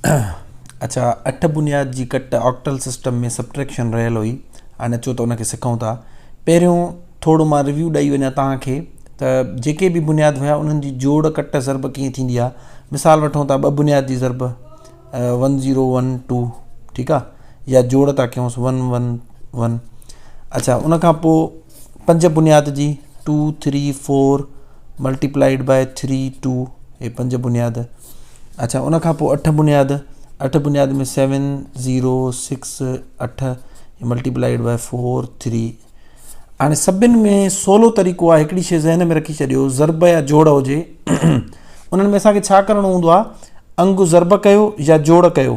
اڇا اٺ بنياد جي ڪٽ آڪٽل سسٽم ۾ سبٽريڪشن رهيل هئي ان اچو ته ان کي سکون ٿا پهريون ٿورو مان ريويو ڏئي وڃا توهان کي ته جيڪي به بنياد هيا انهن جي جوڙ ڪٽ ضرب ڪيئن ٿيندي آهي مثال وٺو ته ٻه بنياد جي ضرب ون زيرو ون ٽو ٺيڪ آهي يا جوڙ ٿا ڪيونس ون ون ون اڇا ان کان پوء پنج بنياد جي two three four multiplied by three two هي پنج بنياد اڇا ان کان پوء اٺ بنياد اٺ بنياد ۾ سيون ذيرو سڪس اٺ هي ملٽيپلائيڊ بائي فور ٿري هاڻي سڀني ۾ سولو طريقو آهي هڪڙي شي ذهن ۾ رکي ڇڏيو ضرب يا جوڙ هجي انهن ۾ اسان کي ڇا ڪرڻو هوندو آهي انگ ضرب ڪيو يا جوڙ ڪيو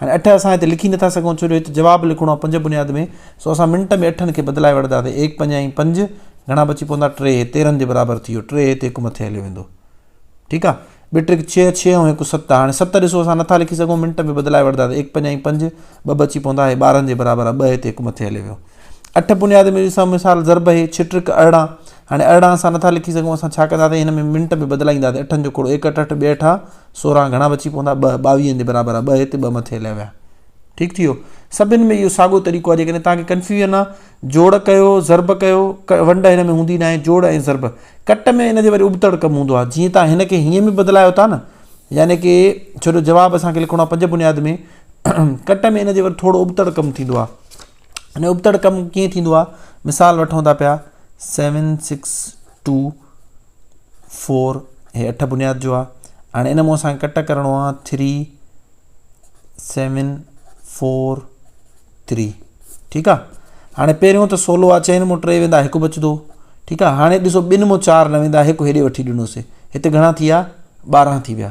هاڻي اٺ اسان هتي لکي نٿا سگهون ڇو جو هت جواب لکڻو آهي پنج بنياد ۾ سو اسان منٽ ۾ اٺن کي بدلائي وٺداسين ايڪ پنج ۽ پنج گهڻا بچي پوندا ٽي هي تيرهن جي برابر ٿي ويو ٽي هتي هڪ مٿي هليو ويندو ٺيڪ آهي ٻي ٽريڪ ڇهه ڇهه ۽ هڪ ست هاڻي ست ڏسو اسان نٿا لکي سگهون منٽ ۾ بدلائي وٺداسين ايڪ پنج ۽ پنج ٻه بچي پوندا هي ٻارهن جي برابر آهي ٻه هتي هڪ مٿي هليو ويو اٺ بنياد ۾ ڏسان مثال ضرب هي ڇٽ رڪ ارڙهن هاڻي ارڙهن اسان نٿا لکي سگهون اسان ڇا ڪندا سائين هن ۾ منٽ به بدلائيندا سائين اٺن جو کوڙو ايڪ اٺ اٺ ٻي اٺا سورهن گهڻا بچي پوندا ٻه ٻاويهن جي برابر آ ٻه هتي ٻه مٿي هليا ويا ٺيڪ ٿيو سڀن ۾ اهو ساڳو طريقو آ جيڪڏهن توهان کي ڪنفيوجن آ جوڙ ڪيو ضرب ڪيو ونڊ هن ۾ هوندي ناهي جوڙ ۽ ضرب ڪٽ ۾ هن جي وري ابتڙ ڪم هوندو آ جيئن توهان هن کي هيئن به بدلايو ٿا نه يعني ڪي ڇو جو جواب اسان کي لکڻو آ پنج بنياد ۾ ڪٽ ۾ هن جي وري ٿورو ابتڙ ڪم ٿيندو آ ھن ابتڙ ڪم ڪيئن ٿيندو آ مثال وٺون ٿا پيا سيون سڪس ٽو فور ھي اٺ بنياد جو آ ھاڻي ان مون اسانکي ڪٽ ڪرڻو آ ٿري سيون فور ٿري ٺيڪ آ ھاڻي پهريون ته سولو آ چئن مون ٽي ويندا ھڪ بچدو ٺيڪ آ ھاڻي ڏسو ٻن مون چار نه ويندا ھڪ ھيڏي وٺي ڏنوسي ھتي گھڻا ٿي ويا ٻارنھن ٿي ويا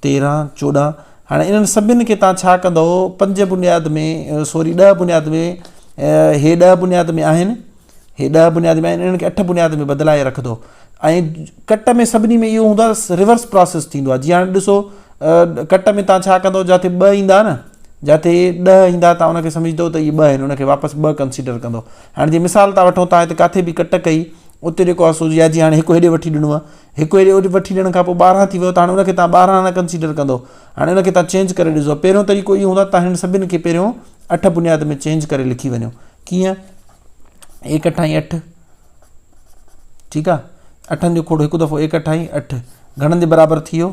تيرهن، چوڏهن، هاڻي انهن سڀني کي توهان ڇا ڪندؤ؟ پنج بنياد ۾ سوري ڏهه بنياد ۾ هي ڏهه بنياد ۾ آهن، هي ڏهه بنياد ۾ آهن، انهن کي اٺ بنياد ۾ بدلائي رکندو ۽ ڪٽ ۾ سڀني ۾ اهو هوندو آهي ريورس پراسيس ٿيندو آهي جيئن هاڻي ڏسو ڪٽ ۾ توهان ڇا ڪندؤ جاٿي ٻه ايندا نه جاٿي ڏهه ايندا توهان ان کي سمجهندو ته اهي ٻه آهن ان کي واپس ٻه ڪنسيڊر ڪندو هاڻي جي مثال ٿا وٺو توهان هتي ڪاٿي به ڪٽ ڪئي اتي جيڪو آهي سو جي هاڻي هڪ هيڏي وٺي ڏنو آهي هڪ ويري اهو وٺي ڏيڻ کان پوء ٻارهن ٿي ويو ته هاڻي ان کي تان ٻارهن نه ڪنسيڊر ڪندو هاڻي ان کي تان چينج ڪري ڏسو پهريون طريقو اهو هوندو تان هن سڀني کي پهريون اٺ بنياد ۾ چينج ڪري لکي وڃو ڪيئن ايڪ اٺائي اٺ ٺيڪ آ اٺن جو کوڙ هڪ دفعو ايڪ اٺائي اٺ گهڻن جي برابر ٿي ويو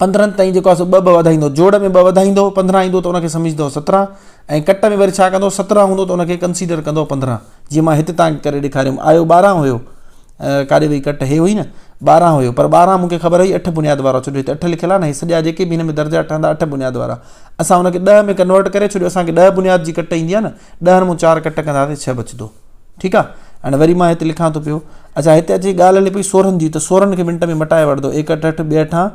پندرهن تائين جيڪو آهي سو ٻه ٻه وڌائيندو جوڙ ۾ ٻه وڌائيندو پندرهن ايندو ته انکي سمجهندو سترهن ۽ ڪٽ ۾ وري ڇا ڪندو سترهن هوندو ته انکي ڪنسيڊر ڪندو پندرهن جيئن مان هت تان ڪري ڏيکاريم آيو ٻارهن هيو ڪاڏي وئي ڪٽ هي هئي نه ٻارهن هيو پر ٻارهن مونکي خبر هئي اٺ بنياد وارا ڇڏيو هت اٺ لکيل آهي نه هي سڄا جيڪي به هن ۾ درجا ٺهندا اٺ بنياد وارا اسان انکي ڏهه ۾ ڪنورٽ ڪري ڇڏيو اسانکي ڏهه بنياد جي ڪٽ ايندي آهي نه ڏهن مون چار ڪٽ ڪنداسي ڇهه بچدو ٺيڪ آ هاڻي وري مان هتي لکان ٿو پيو اچھا هتي اچي ڳالهه هلي پئي سورن جي ته سورن کي منٽ ۾ مٽائي وٺندو ايڪ اٺ اٺ ٻي اٺان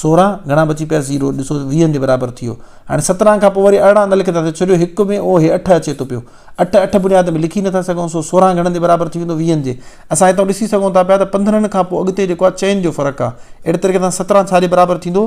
سوران گهڻا بچي پيا زيرو ڏسو ويهن جي برابر ٿي ويو هاڻي سترهن کان پوء وري ارڙهن نه لکندا ته ڇڏيو هڪ ۾ اهو هي اٺ اچي ٿو پيو اٺ اٺ بنياد ۾ لکي نٿا سگهون سو سوران گهڻن جي برابر ٿي ويندو ويهن جي اسان هتان ڏسي سگهون ٿا پيا ته پندرهن کان پوء اڳتي جيڪو آ چئن جو فرق آ اهڙي طريقي سان سترهن ڇا جي برابر ٿيندو